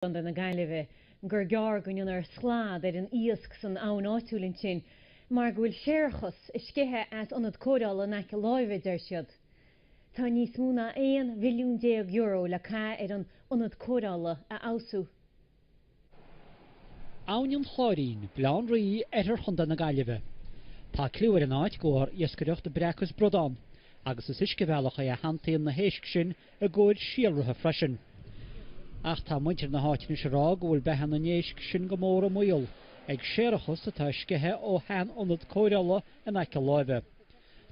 gContae na Gaillimhe gur gearr go ndéanfar slad ar an iasc san abhainn áitiúil ansin mar go bhfuil séarachas ag sceitheadh as ionad cóireála in aice láimhe, a deir siad. Tá níos mó ná €11 mhilliún le caitheamh ar an ionad cóireála a fheabhsú. Abhainn an Chláirín, Baile Átha an Rí, oirthear Chontae na Gaillimhe. Tá cliú ar an áit de bharr iascaireacht breac is bradán, agus is uiscebhealach é a shantaíonn na héisc sin i gcomhair síolraithe freisin. Ach tá muintir na háite anois ag rá go bhfuil beatha na n-éisc sin go mór i mbaol ag séarachas atá ag sceitheadh ó shean-ionad cóireála in aice láimhe.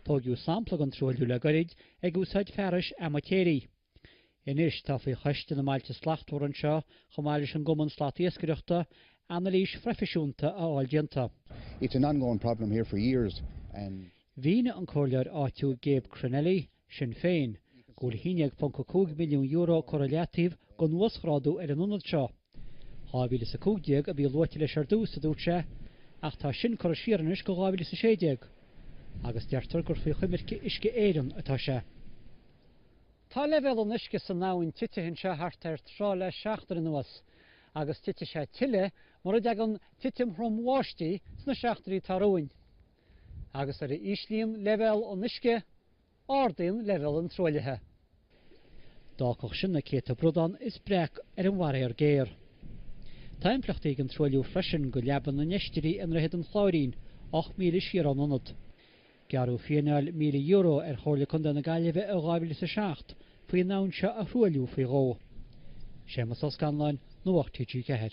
Tóigeadh sampla den truailliú le goirid ag úsáid fearais amaitéirigh. Anois tá faoi Choiste na mBailte Slachtmhar anseo, chomh maith leis an gCumann Slat-Iascaireachta, anailís phroifisiúnta a fháil déanta. It's an ongoing problem here for years and. Mhínigh an Comhairleoir áitiúil Gabe Cronnelly Sinn Féin, go bhfuil €11.5 milliún curtha i leataobh don uasghrádú ar an ionad seo. 2015 a bhí luaite leis ar dtús, a dúirt sé, ach tá sin curtha siar anois go 2016. Agus deirtear gur faoi choimirce Uisce Éireann atá sé. Tá leibhéal an uisce san abhainn titithe anseo thart ar throigh le seachtain anuas, agus titfidh sé tuilleadh mura dtagann titim throm bháistí sna seachtainí atá romhainn. agus de réir mar a íslíonn leibhéal an uisce, ardaíonn leibhéal an truaillithe. D'fhágfadh sin na céadta bradán is breac ar an bhfaraor géar. Tá impleachtaí ag an truailliú freisin do leaba na n-oisrí i nDroichead an Chláirín, ocht míle siar ón ionad. Gearradh fíneáil €1,000 ar Chomhairle Contae na Gaillimhe i 2000 is a seacht faoi an abhainn seo a thruailliú faoi dhó. Séamus Ó Scanláin, Nuacht TG4.